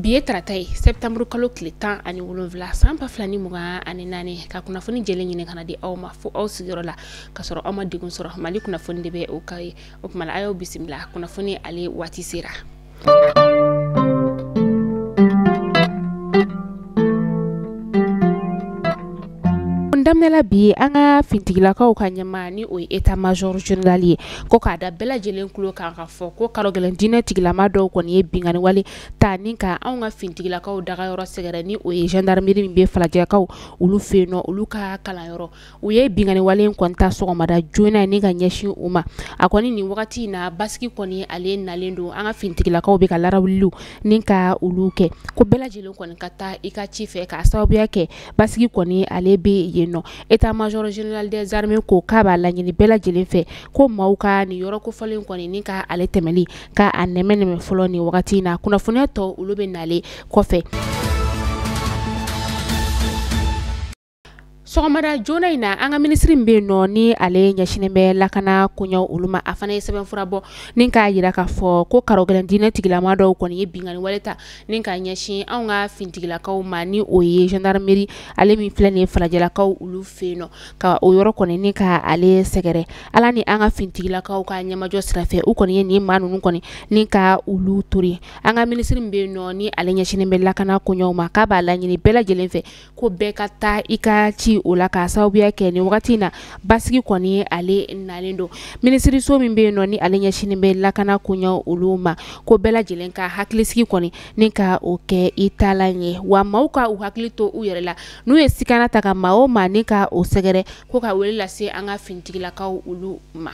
bi ye tarata ye sɛptanburu kalo tile tan ani wolonwula san ba fila ni mugan ani naani ka kunnafoni jɛlen ɲini ka n'a di aw ma fo aw sigiyɔrɔ la ka sɔrɔ aw ma degun sɔrɔ mali kunnafoni de bɛ o k'aw ye o tuma a y'aw bisimila kunnafoni ale waati sera daminɛla bi an ka fintigilakaw ka ɲɛmaa ni o ye etat major general ye ko k'a da bɛɛ lajɛlen tulo kan ka fɔ ko karɔgɛlɛn diinɛ tigilamaa dɔw kɔni ye binkanni wale ta ni ka anw ka fintigilakaw dagayɔrɔ sɛgɛrɛ ni o ye gendarmerie min bɛ falajɛkaw olu fɛ yen nɔ olu ka kalanyɔrɔ u ye binkanniwale in kɔni ta sɔgɔmada joona in ni ka ɲɛsin u ma a kɔni nin wagati in na basigi kɔni ale nalen don an ka finitigilakaw bɛ ka larawuliw ni ka olu kɛ ko bɛɛ lajɛlen kɔni ka taa i ka ci fɛ k'a sababuya kɛ basigi kɔni ale bɛ yen nɔ etat major general des armées ko k'a b'a laɲini bɛɛ lajɛlen fɛ ko maaw ka nin yɔrɔ kofɔlen in kɔni ni ka ale tɛmɛli ka a nɛmɛ nɛmɛ fɔlɔ nin wagati in na kunnafoniya tɔ olu bɛ n'ale kɔfɛ sɔgɔmada joona in na an ka minisiri min bɛ yen nɔ ni ale ɲɛsinnen bɛ lakana koɲɛw olu ma a fana ye sɛbɛnfura bɔ ni k'a jira k'a fɔ ko karɔgɛlɛn diinɛ tigilamaa dɔw kɔni ye binkanni wale ta ni ka ɲɛsin anw ka fintigilakaw ma ni o ye gendarmerie ale min filɛ nin ye falajɛlakaw olu fɛ yen nɔ ka o yɔrɔ kɔni ni ka ale sɛgɛrɛ ala ni an ka fintigilakaw ka ɲɛmajɔ sira fɛ u kɔni ye nin maa ninnu kɔni ni ka olu tori an ka minisiri bɛ yen nɔ ni ale ɲɛsinnen bɛ lakana koɲɛw ma k'a b'a laɲini bɛɛ lajɛlen fɛ ko bɛɛ ka taa i ka ci o la k'a sababuya kɛ nin wagati in na basigi kɔni ale nalen don minisiriso min bɛ yen nɔ ni ale ɲɛsinnen bɛ lakana koɲɛw olu ma ko bɛɛ lajɛlen ka hakilisigi kɔni ni ka o kɛ i taalan ye wa maaw ka u hakili to u yɛrɛ la n'u ye sikana ta ka maa o maa ni ka o sɛgɛrɛ ko ka wele lase an ka finitigilakaw olu ma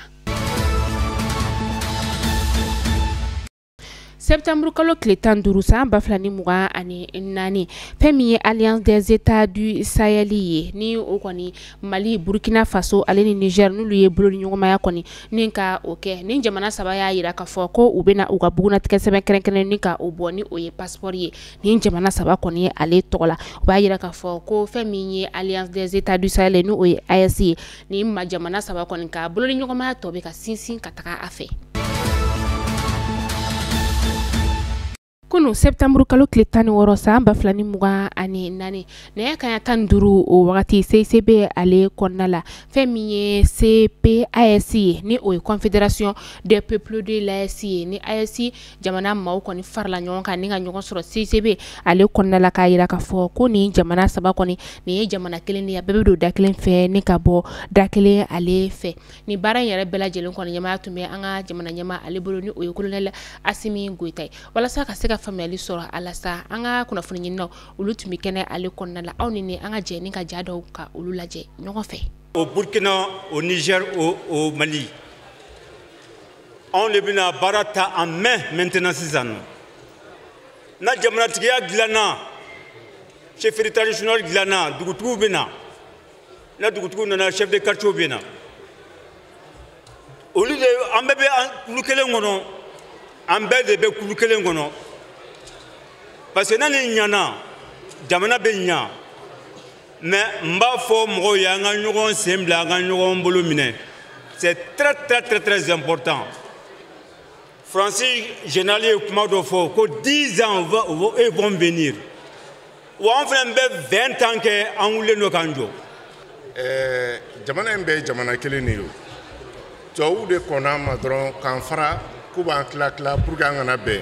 Septembre kalo tile tan duuru san ba fila ni mugan ani naani fɛn min ye alliance des états du sahel ye ni o kɔni mali burukina faso ale ni niger n'olu ye bolodiɲɔgɔnmaya kɔni ni ka o kɛ nin jamana saba y'a jira ka fɔ ko u bɛna u ka bugunnatigɛsɛbɛn kɛrɛnkɛrɛn ni ka o bɔ ni o ye passeport ye nin jamana saba kɔni ye ale tɔgɔ la u b'a jira ka fɔ ko fɛn min ye alliance des états du sahel ye n'o ye aes ye nin ma jamana saba kɔni ka bolodiɲɔgɔnmaya tɔ bɛ ka sinsin ka taga a fɛ kunu septembre kalo tile tan ni wɔɔrɔ san ba fila ni mugan ani naani nɛgɛ kanɲɛ tan ni duuru o wagati cicb ale kɔnɔna la fɛn min ye cpaes ye ni o ye confederation des peuples de l'aes ye ni aes jamana maaw kɔni farala ɲɔgɔn kan ni ka ɲɔgɔn sɔrɔ CICB ale kɔnɔna la k'a jira k'a fɔ ko nin jamana saba kɔni nin ye jamana kelen de ye a bɛɛ bɛ don da kelen fɛ ni ka bɔ da kelen ale fɛ nin baara in yɛrɛ bɛɛ lajɛlen kɔni ɲɛmaaya tun bɛ an ka jamana ɲɛmaa ale bolo ni o ye kolonɛli Asimi Goyita ye walasa ka se ka faamuyali sɔrɔ a la sa an ka kunnafoni ɲininaw olu tun bɛ kɛnɛ ale kɔnɔna la aw ni ne an ka jɛ ni ka ja dɔw ka olu lajɛ ɲɔgɔn fɛ. Au Burkina, au Niger, au, au Mali. anw de bɛna baara ta en main maintenant sisan nɔ na jamanatigiya dilanna chefferie traditionnelle dilanna dugutigiw bɛ na na dugutigiw nana chef de quartier bɛ na olu de an bɛɛ bɛ kulu kelen kɔnɔ an bɛɛ de bɛ kulu kelen kɔnɔ parce que na nin ɲana jamana bɛ ɲa mais n b'a fɔ mɔgɔw ye an ka ɲɔgɔn sen bila an ka ɲɔgɔn bolo minɛ c'est très très très très important faransi général ye kuma dɔ fɔ ko 10 ans ils vont venir wa an fana bɛ 20 ans kɛ an wulilen don k'an jɔ eh, jamana in bɛɛ ye jamana kelen de ye tubabuw de kɔnna an ma dɔrɔn k'an fara k'u b'an tila tila pour que an kana bɛn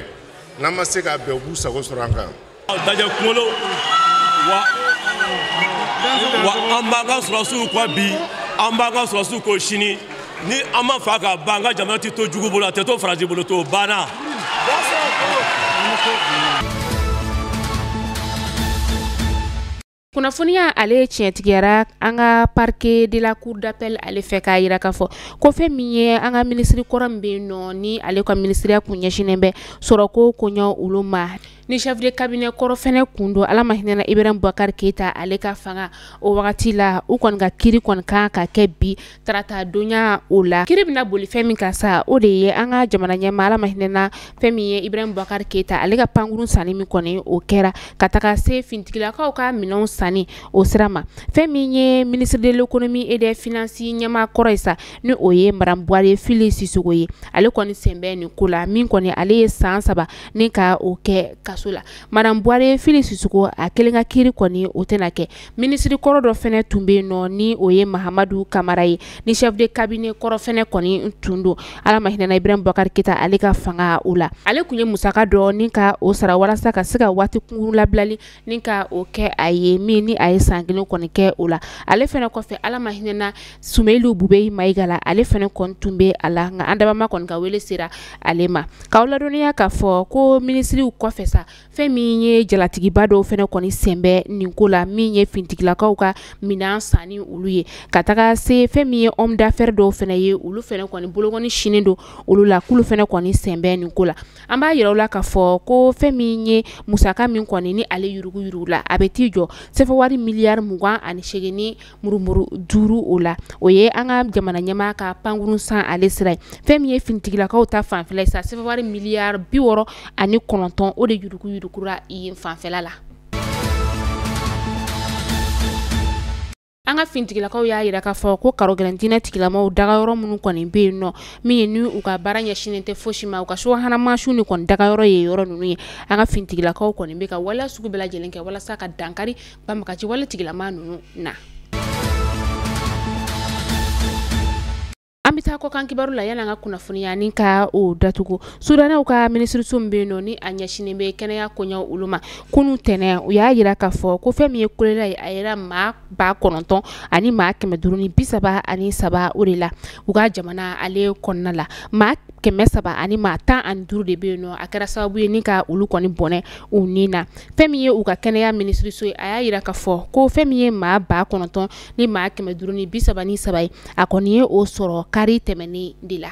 n'an ma se ka bɛn u b'u sago sɔrɔ an kan dajɛ kunkolo wa wa an b'an ka sɔrɔsiw kɔ bi an b'an ka sɔrɔsiw kɔ sini ni an ma faa ka ban an ka jamana tɛ to jugu bolo a tɛ to faransi bolo to banna. kunnafoniya ale ye tiɲɛtigiyara an ka parquet de la cour d'appel ale fɛ k'a yira k'a fɔ ko fɛn min ye an ka minisiri kɔrɔ min bɛ yen nɔ ni ale ka minisiriya kun ɲɛsinnen bɛ sɔrɔko koɲɛ olu ma ni chef de cabinet kɔrɔ fɛnɛ kun don ala ma hinɛna ibrahim bubakari keyita ale ka fanga o wagati la u kɔni ka kiri kɔni kan ka kɛ bi tarata donya o la kiri bɛna boli fɛn min kan sa o de ye an ka jamana ɲɛmaa ala ma hinɛna fɛn min ye ibrahim bubakari keyita ale ka pankurun sanni min kɔni o kɛra ka taga se finitigilakaw ka minɛnw sanni o sira ma fɛn min ye ministre de l'économie et des finances ɲɛmaa kɔrɔ ye sa ni o ye madame buware fili sisoko ye ale kɔni sen bɛ nin ko la min kɔni ale ye san saba ni ka o kɛ kaso la madame buware fili sisoko a kelen ka kiri kɔni o tɛna kɛ minisiri kɔrɔ dɔ fɛnɛ tun bɛ yen nɔ ni o ye mahamadu kamara ye ni chef de cabinet kɔrɔ fɛnɛ kɔni tun don ala ma hinɛna ibrahim bubakari keyita ale ka fanga o la ale tun ye musaka dɔ ni ka o sara walasa ka se ka waati kunkurun labilali ni ka o kɛ a ye min ni a ye san kelen kɔni kɛ o la ale fɛnɛ kɔfɛ ala ma hinɛna sumeyilu bubeyi mayiga la ale fɛnɛ kɔni tun bɛ a la nka an dabaa ma kɔni ka wele sera ale ma k'aw ladɔnniya k'a fɔ ko minisiriw kɔfɛ sa fɛn min ye jalatigiba dɔw fɛnɛ kɔni sen bɛ nin ko la min ye fintigilakaw ka minɛn sanni olu ye ka taga se fɛn min ye homme d'affaires dɔw fɛnɛ ye olu fɛnɛ kɔni bolokɔni sinnen don olu la k'olu fɛnɛ kɔni sen bɛ nin ko la an b'a yira u la k'a fɔ ko fɛn min ye musaka min kɔni ni ale yuruguyurugula a bɛ t'i jɔ sɛfɛwari miliyari mugan ani seegin ni murumuru duuru o la o ye an ka jamana ɲɛmaa ka pankurun san ale sira ye fɛn min ye finitigilakaw ta fanfɛla ye sa sɛfɛwari miliyari bi wɔɔrɔ ani kɔnɔntɔn o de yurukuyurukura yen fanfɛla la an ka finitigilakaw y'a yira k'a fɔ ko karogɛlɛn diinɛ tigilamaw dagayɔrɔ minnu kɔni bɛ yen nɔ min ye ni u ka baara ɲɛsinnen tɛ fosi ma u ka subahana mansinw de kɔni dagayɔrɔ ye yɔrɔ ninnu ye an ka finitigilakaw kɔni bɛ ka waleya sugu bɛɛ lajɛlen kɛ walasa ka dankari banbagaci wale tigilama ninnu na an bɛ taa kɔkan kibaru la yan'an ka kunnafoniya ni ka o datugu sudanɛw ka minisiriso min bɛ yen nɔ ni a ɲɛsinnen bɛ kɛnɛya koɲɛw olu ma kunu tɛnɛn u y'a yira k'a fɔ ko fɛn min ye kolela ye a yera maa ba kɔnɔntɔn ani maa kɛmɛ duuru ni bi saba ani saba o de la u ka jamana ale kɔnɔna la kɛmɛ saba ani maa tan ani duuru de bɛ yen nɔ a kɛra sababu ye ni ka olu kɔni bɔnɛ u ni na fɛn min ye u ka kɛnɛya minisiriso ye a y'a yira k'a fɔ ko fɛn min ye maa ba kɔnɔntɔn ni maa kɛmɛ duuru ni bi saba ni saba ye a kɔni ye o sɔrɔ kari tɛmɛnen de la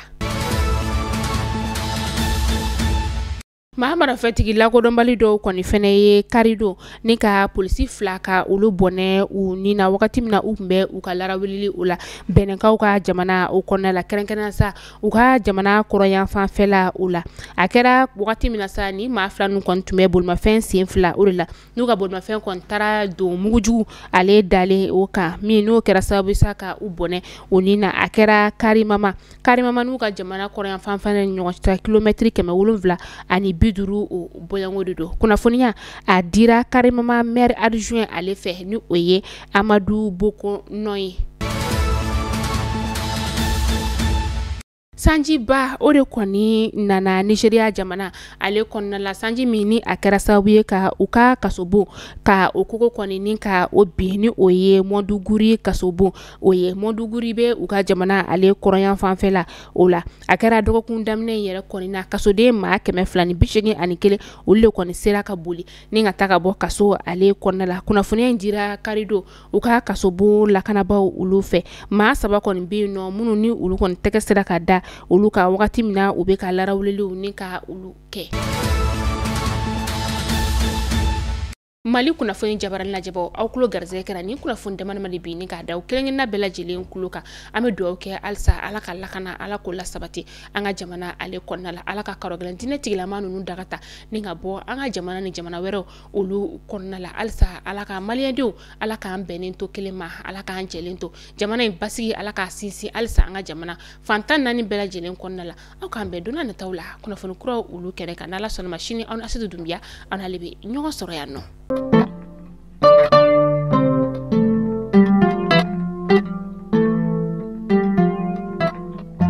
maa marafatigi lakodɔnbali dɔw kɔni fɛnɛ ye kari don ni ka polisi fila ka olu bɔnɛ u ni na wagati min na u tun bɛ u ka larawulili o la benɛnkaw ka jamana o kɔnɔna la kɛrɛnkɛrɛn sa u ka jamana kɔrɔyanfanfɛla o la a kɛra wagati min na sa ni maa fila ninnu kɔni tun bɛ bolimafɛn sen fila o de la n'u ka bolimafɛn kɔni taara don mugujugu ale dalen o kan min n'o kɛra sababu sa ka u bɔnɛ u ni na a kɛra karimama karimama n'u ka jamana kɔrɔyanfanfan ni ɲɔgɔn cɛ kilomɛtiri kɛmɛ wolonwula ani bi duuru o bɔɲɔgɔnko de don kunnafoniya a dira karimama maire adjoint ale fɛ ni o ye amadu bokonɔ ye sanjiba o de kɔni nana nizeriya jamana ale kɔnɔna la sanji min ni a kɛra sababu ye ka u ka kasobon ka o kogo kɔni ni ka o bin ni o ye mɔduguri kasobon o ye mɔduguri bɛ u ka jamana ale kɔrɔyan fanfɛ la o la a kɛra dɔgɔkun daminɛ in yɛrɛ kɔni na kasoden maa kɛmɛ fila ni bi seegin ani kelen olu de kɔni sera ka boli ni ka taa ka bɔ kaso ale kɔnɔna la kunnafoniya in dira kari don u ka kasobon lakanabaaw olu fɛ maa saba kɔni bɛ yen nɔ minnu ni olu kɔni tɛgɛ sera ka da olu kan wagati min na u bɛ ka larawuliliw ni ka olu kɛ mali kunnafoni jabaranin lajɛbaaw aw kulo garisɛgɛ kɛra ni kunnafoni dama dama de bi ni k'a da aw kelenkelenna bɛɛ lajɛlen kulo kan an bɛ dugawu kɛ halisa ala ka lakana ala k'o lasabati an ka jamana ale kɔnɔna la ala ka karɔgɛlɛn diinɛtigilama ninnu daga ta ni ka bɔ an ka jamana ni jamana wɛrɛw olu kɔnɔna la halisa ala ka maliyɛndenw ala k'an bɛnnen to kelen ma ala k'an jɛlen to jamana in basigi ala k'a sinsin halisa an ka jamana fantan naani bɛɛ lajɛlen kɔnɔna la aw k'an bɛn donna nataw la kunnafoni kuraw olu kɛnɛ kan n'ala sɔnna a ma sini aw n'asitu dunbiya aw n'ale bɛ ɲɔgɔn sɔrɔ yan nɔ